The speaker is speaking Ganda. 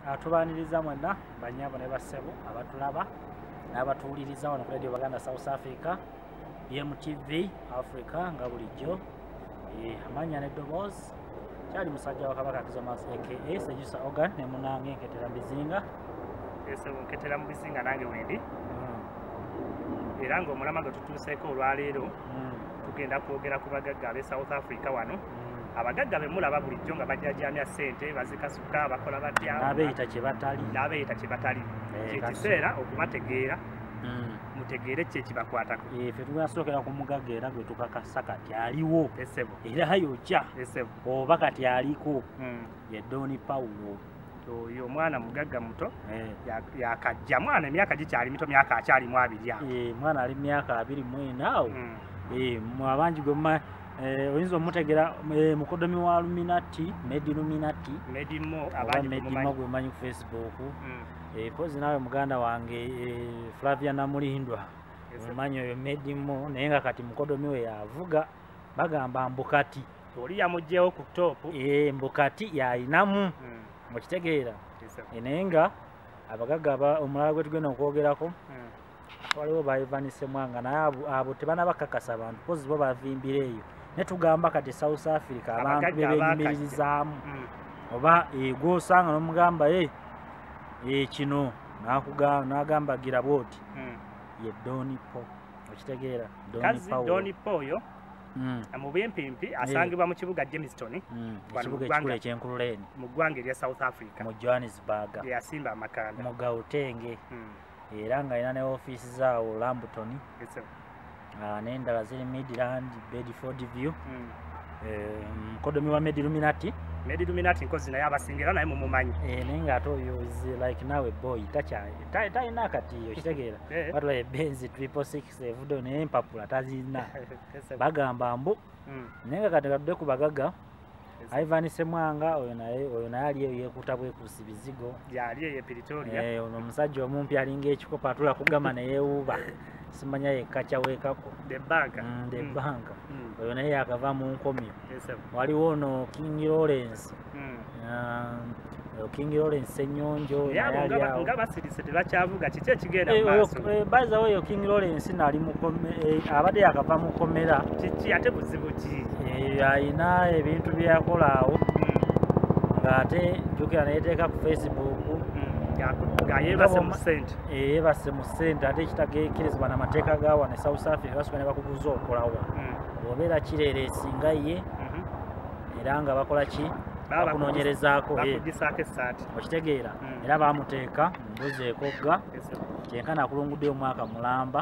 Ah, tubaniriza mwenna banyabo ne bassebo abatulaba n'abatuwuliriza wano ku radio baganda south africa bmtv africa nga bulijjo eh, amanya neddoboozi kyali musajja wakabaka kizomas aka sejusa ogan ne munange nketera mubizinga nketera mu bizinga nange wendi hmm. era ngaomulama gwe tutuuseeko olwaleero hmm. tugenda kwogera ku bagagga ab'e south africa wano hmm. abagagga bemulaba bulijjo nga bajajamya ssente bazika bokka bakola batya n'abeeyita kye batali n'abeeyita kye batali eh, kyekiseera okubategeera hmm. mutegeere kye kibakwatako eh, fe tugasookera ku mugagga era gwe tukakasa kati aliwo esebo era yokya esebo oba kati aliko hmm. ye doni pawulo oyo omwana mugagga muto eh. yakajja mwana emyaka gikyali mito myaka akyalimu abiri awo mwana ali myaka abiri mwena awo hmm. mwabangi gwe Eh, oyinza omutegera eh, mukodomi wa luminati medi luminati medimo gwemanyi ku facebook hmm. eh, pozi naawe muganda wange flavia namulindwa mumanyi oyo medimo naye nga kati mukodomi we yavuga bagamba mbukati oli yamugyewo ku top mbukati yayinamu hmm. mukitegeera naye nga abagaga omulala gwetugenda okwogerako hmm. waliwo ba ivan semwanga naye abo tebana bakakasa abantu kozi bo bavimbira eyo naye tugamba kati south africa abantu bebenyumiririzaamu mm. oba egwe eh, osanga nomugamba e eh, kino nagamba gira bwoti mm. ye donipo okitegeera donipo oyo mm. mubimpimpi eh. asangibwa mu kibuga jamestown mu ggwanga erya south africa mu johannesburg yasimba amakanda mu gautenge era nga alina ne ofiisi zaawo lambuton ah, n'endala ziri midland bedford view hmm. eh, mukodomi wa mediluminati mediluminati nkozi naye abasinga era naye mumumanyi eh, naye ngaate oyo like nawe boy talina akatiyo kitegeera batula ebenzi triple six evudo naye empapula tazirina bagamba mbu hmm. naye nga kati katudde ku bagaga Ivan Semwanga oyo naye oyo naye aliyo yekuta bwe kusibizigo yali ye Pretoria eh ono musajja omumpi alinga ekikopa atula kugama na yewuba simanya ye kacha weka ko the bank mm, the mm. bank mm. oyo naye akava mu nkomyo yes, waliwo no King Lawrence mm. um, King Lawrence Senyonjo nga basirise tebakyavuga kiki ekigenda eh, maaso eh, by the way King Lawrence nali mukome eh, abadde yakava mu komera kiki ate buzibu ki ayina ebintu bye yakola awo hmm. ng'ate jjukira neyeteeka ku Facebook hmm. ngayebase mu sente eyebase mu sente ate ekitagekirizibwa namateeka ga wano e south africa basobola ne bakubuza okolawa hmm. obeera kireera esinga ye era nga bakola ki bakunonyerezaako okitegeera hmm. era bamuteeka mumbuzi ekogga kyenkana akulungudde omwaka mulamba